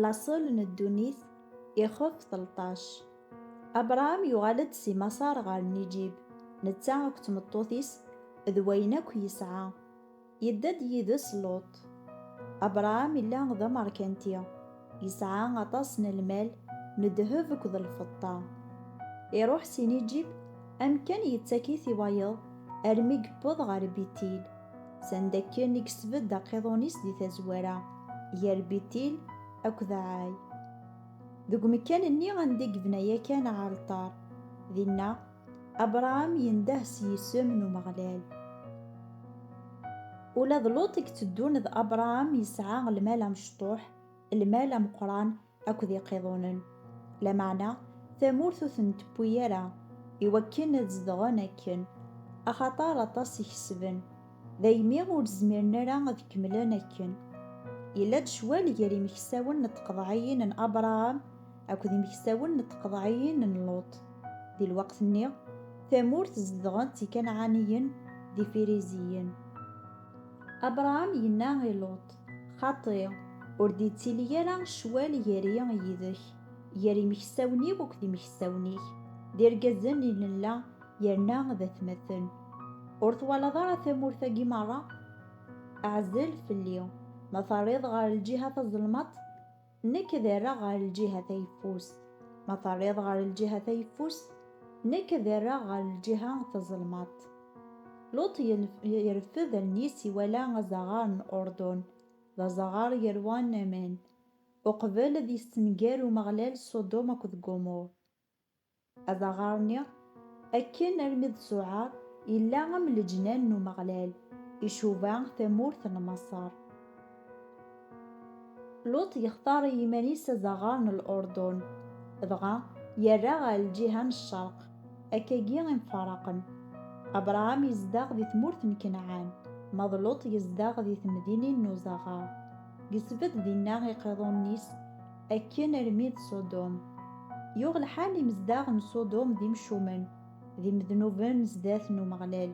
Laṣel n ddunit ixef telṭac. Abṛam yuɣal-d si Maṣer ɣer Nijib, netta akked tmeṭṭut-is d wayen akk yesɛa. Yedda-d yid-s Luṭ. Abṛam yella d ameṛkanti, yesɛa aṭas n lmal n ddheb akked lfeṭṭa. Iṛuḥ si Nijib, amkan yettak-it i wayeḍ armi yewweḍ ɣer Bitil. Sanda akken i yesbedd aqiḍun-is di tazwara gar Bitil akked Ɛay. Deg umekkan-nni anda i yebna yakan aɛalṭar, dinna Abṛaham yendeh s yisem n Umeɣlal. Ula d Luṭ i itteddun d Abṛaham yesɛa lmal amecṭuḥ, lmal ameqqran akked iqiḍunen, lameɛna tamurt ur ten-tewwi ara i wakken ad zedɣen akken, axaṭer aṭas i kesben, daymi ur zmiren ara ad kemmlen akken. Yella-d ccwal gar imeksawen n tqeḍɛiyin n Abṛaham akked imeksawen n tqeḍɛiyin n Luṭ. Di lweqt-nni, tamurt zedɣen-tt Ikanɛaniyen d Ifiriziyen. Abṛaham yenna i Luṭ. Xaṭi, ur d-yettili ara ccwal gar-i yid-k, gar yimeksawen-iw akked yimeksawen-ik, d irgazen i nella yerna d atmaten. Ur twalaḍ ara tamurt-agi merra? Ɛzel fell-i, ma terriḍ ɣer lǧiha tazelmaṭ, Nekk ad rreɣ ɣer lǧiha tayeffust. Ma terriḍ ɣer lǧiha tayeffust, nekk ad rreɣ ɣer lǧiha tazelmaḍt. Luṭ yerfed allen-is iwala azaɣar n Urdun, d azaɣar yerwan aman, uqbel ad yestenger Umeɣlal Ṣudum akked Gumur. Adaɣaṛ-nni, akken armi d Suɛaṛ, yella am leǧnan n Umeɣlal, icuba tamurt n Maṣer. Luṭ yextaṛ i yiman-is adaɣaṛ n Lurdun, dɣa yerra ɣer lǧiha n cceṛq, akka-gi i mfaṛaqen. Abṛaham yezdeɣ di tmurt n Kenɛan, ma d Luṭ yezdeɣ di temdinin n uzaɣaṛ. Gesbed dinna iqiḍunen-is, Akken armi d Ṣudum. Yuɣ lḥal imezdaɣ n Ṣudum d imcumen, d imednuben sdat n Umeɣlal.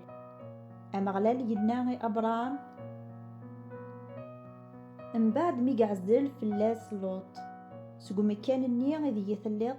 Ameɣlal yenna i Abṛam, mbeɛd mi yeɛzel fell-as Luṭ, Seg umekkan-nni ideg i telliḍ,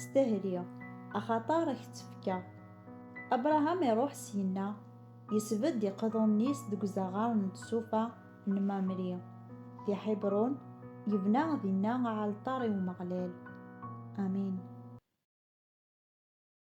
Stehli, axaṭer a k-tt-fkeɣ. Abṛaham iṛuḥ syenna, isbedd iqḍunen-is deg uzaɣar n tsufa n Mamri, di Ḥibṛun, yebna dinna aɛalṭar i Umeɣlal. Amin.